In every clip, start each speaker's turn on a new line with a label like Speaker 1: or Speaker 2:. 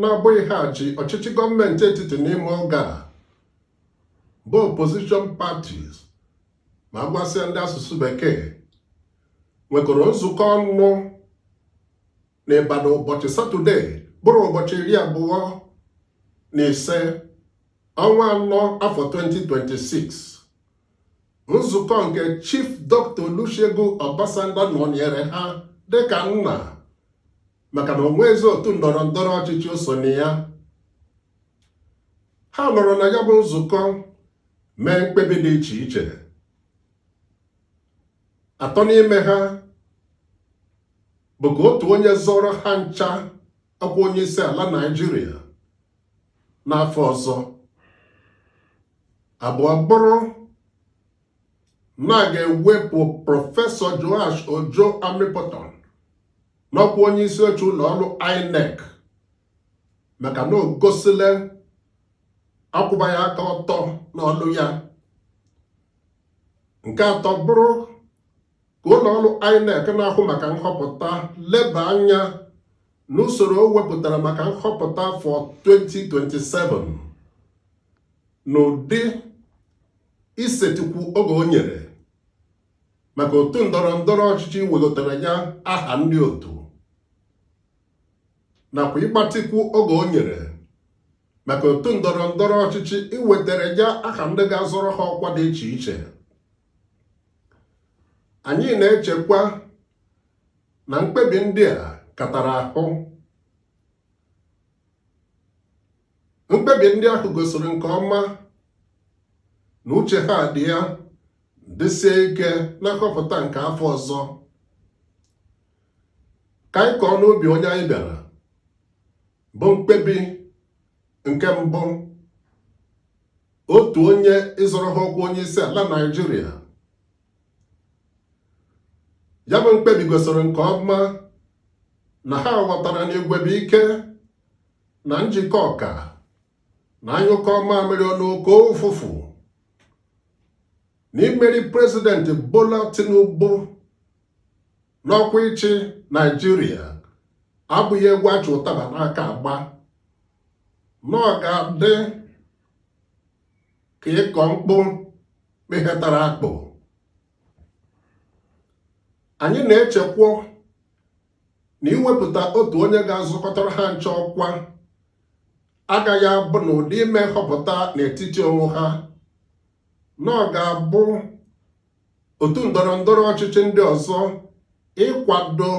Speaker 1: na-abụghị ha ji ọchịchị gọọmenti etiti n'ime oge a bụ opposition parties ma a gwasịa ndị asụsụ bekee nwekọrọ nzukọ ọnụ n'Ibadan ụbọchị satọde bụrụ ụbọchị iri abụọ na ise ọnwa anọ afọ 2026 nzukọ nke Chief Dr. Olusegun Obasanjo nọnyere ha dịka nna maka na o nwezi otu ndọrọ ndọrọ ọchịchị o so na ya ha nọrọ na ya bụ nzukọ mee mkpebi dị iche iche atọ n'ime ha bụ ka otu onye zọrọ ha ncha ọkwa onye isi ala Naịjirịa n'afọ ọzọ abụọ bụrụ na a ga-ewepụ prọfesọ Joash Ojo Amupitan n'ọkwa onye isi oche ụlọ ọrụ INEC maka na o gosile akwụbaghị aka ọtọ n'ọlụ ya nke atọ bụrụ ka ụlọ ọrụ INEC na-ahụ maka nhọpụta leba anya n'usoro o wepụtara maka nhọpụta afọ 2027 n'ụdị isetikwu oge o nyere maka otu ndọrọ ndọrọ ọchịchị iwegotara ya aha ndị otu nakwa ịgbatịkwu oge o nyere maka otu ndọrọ ndọrọ ọchịchị iwetara ya aha ndị ga-azọrọ ha ọkwa dị iche iche anyị na-echekwa na mkpebi ndị a katara ahụ mkpebi ndị ahụ gosiri nke ọma na uche ha dị ya dịsie ike na nhọpụta nke afọ ọzọ ka anyị kọọ n'obi onye anyị bịara bụ mkpebi nke mbụ otu onye ịzọrọ ha ọkwa onye isi ala Naịjirịa ya bụ mkpebi gosiri nke ọma na ha ghọtara na igwe bụ ike na njikọ ka na a nyụkọọ mamịrị ọnụ ọ gbọọ ụfụfụ na imeri prezidenti Bola Tinubu n'ọkwa ịchị Naịjirịa abụghị egwu a chị ụtaba n'aka agba na ọ ga-adị ka ịkọ mkpụ kpịhetara akpụ anyị na-echekwa na iwepụta otu onye ga-azọkọtara ha nche ọkwa agaghị abụ n'ụdị ime nhọpụta n'etiti onwe ha na ọ ga-abụ otu ndọrọ ndọrọ ọchịchị ndị ọzọ ịkwado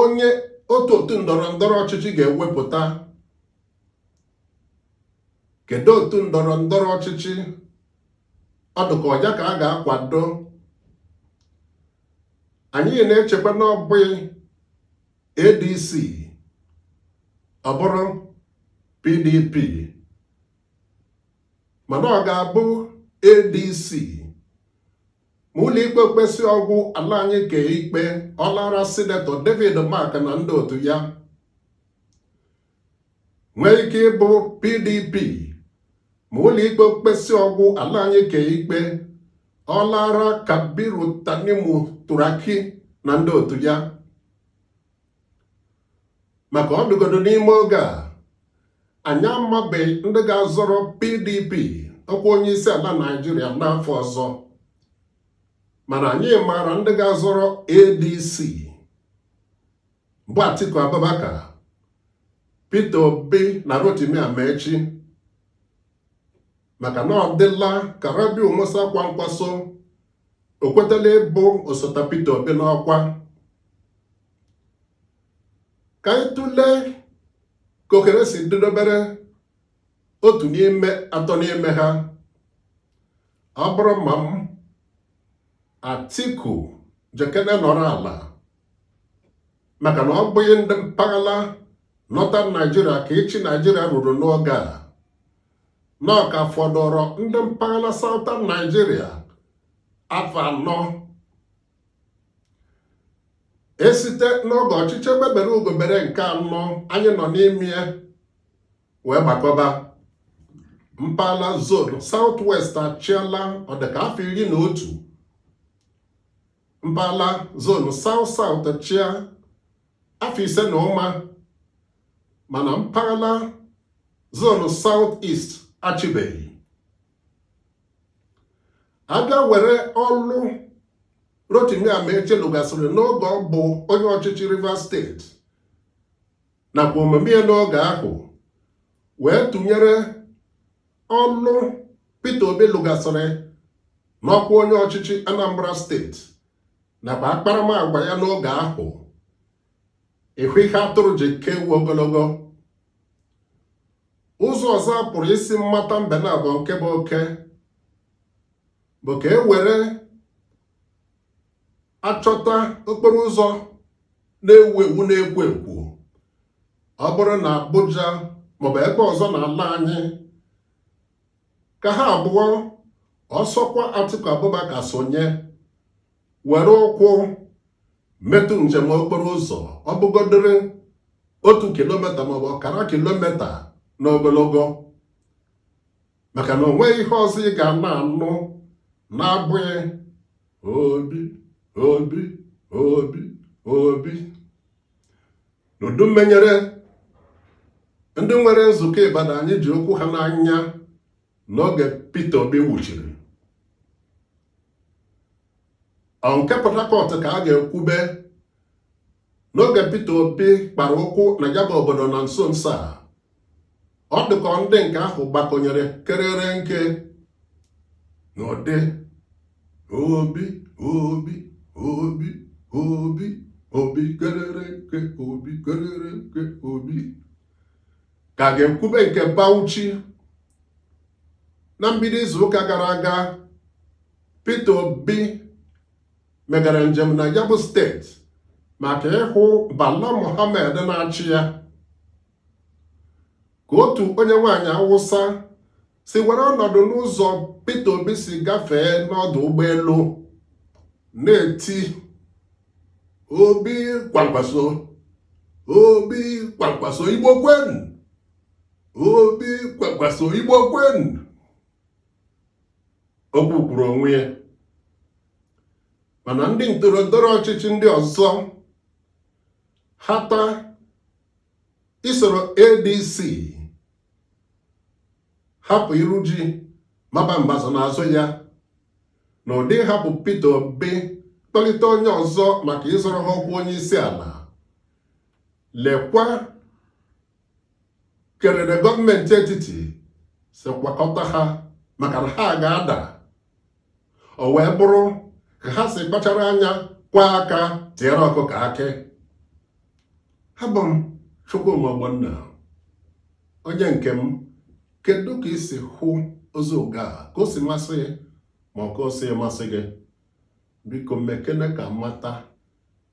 Speaker 1: onye otu otu ndọrọ ndọrọ ọchịchị ga-ewepụta kedu otu ndọrọ ndọrọ ọchịchị ọ dụka ọ ya ka a ga-akwado anyị na-echekwa na ọ bụghị ADC ọ bụrụ PDP mana ọ ga-abụ ADC ma ụlọikpe ekpesịa ọgwụ ala anyị kpee ikpe ọ laara sinetọ David Mark na ndị otu ya nwee ike ịbụ PDP ma ụlọikpe ekpesịa ọgwụ ala anyị kpee ikpe ọ laara Kabiru Tanimu Turaki na ndị otu ya maka ọ dụgodo n'ime oge a anyị amabeghị ndị ga-azọrọ PDP ọkwa onye isi ala Naịjirịa n'afọ ọzọ mana anyị maara ndị ga-azọrọ ADC bụ Atiku Abubakar Peter Obi na Rotimi Amaechi maka na ọ dịla ka Rabiu Musa Kwankwaso o kwetala ịbụ osote Peter Obi n'ọkwa ka anyị tụlee ka ohere si dịdobere otu n'ime atọ n'ime ha ọ bụrụ ma m Atiku jekene nọrọ ala maka na ọ bụghị ndị mpaghara Northern Nigeria ka ịchị Nigeria ruru n'oge a na ọ ka fọdụrụ ndị mpaghara Southern Nigeria afọ anọ e site n'oge ọchịchị egbe bere ugo bere nke anọ anyị nọ n'ime ya wee gbakọba mpaghara zone South West achịala ọdịka afọ iri na otu mpaghara zone South South chịa afọ ise na ụma mana mpaghara zone South East achịbeghị a bịa were ọlụ Rotimi Amaechi lụgasịrị n'oge ọ bụ onye ọchịchị Rivers steeti nakwa omume ya n'oge ahụ wee tụnyere ọlụ Peter Obi lụgasịrị n'ọkwa onye ọchịchị Anambra steeti nakwa akparamagwa ya n'oge ahụ ịhụ ihe atụrụ ji ka ewu ogologo ụzọ ọzọ a pụrụ isi mmata mbe na abụọ nke bụ oke bụ ka e were achọta okporo ụzọ na-ewu ewu na-ekwo ekwo ọ bụrụ na Abuja maọbụ ebe ọzọ n'ala anyị ka ha abụọ ọ sọkwa Atiku Abubakar sonye were ụkwụ metụ njem okporo ụzọ ọ bụgodịrị otu kilomita maọbụ ọkara kilomita n'ogologo maka na o nweghị ihe ọzọ ị ga na-anụ na-abụghị Obi Obi Obi Obi n'ụdị mmenyere ndị nwere nzukọ Ibadan anyị ji okwu ha n'anya n'oge Peter Obi wuchiri ọ nke Port Harcourt ka a ga-ekwube n'oge Peter Obi kpara ụkwụ na ya bụ obodo na nso nso a ọ dịka ndị nke ahụ gbakọnyere kerere nke n'ụdị Obi Obi Obi Obi Obi kerere nke Obi kerere nke Obi ka a ga-ekwube nke Bauchi na mbido izuụka gara aga Peter Obi megara njem na ya bụ steeti maka ịhụ Bala Mohammed na-achị ya ka otu onye nwaanyị Awụsa si were ọnọdụ n'ụzọ Peter Obi si gafee n'ọdụ ụgbọelu na-eti Obi Kwankwaso Obi Kwankwaso Igbo kwenu Obi Kwankwaso Igbo kwenu okwu kwuru onwe ya mana ndị ndọrọndọrọ ọchịchị ndị ọzọ hata isoro ADC hapụ iru ji maba mbazụ n'azụ ya n'ụdị hapụ Peter Obi kpọlite onye ọzọ maka ịzọrọ ha ọkwa onye isi ala lekwa kerere gọọmenti etiti si kwakọta ha maka na ha ga-ada o wee bụrụ ka ha si kpachara anya kwa aka tiere ọkụkọ akị abụ m Chukwuma Ogbonna onye nke m kedu ka i si hụ ozi ụga a ka o si masị ma ọ ka o sighị masị gị biko mekene ka m mata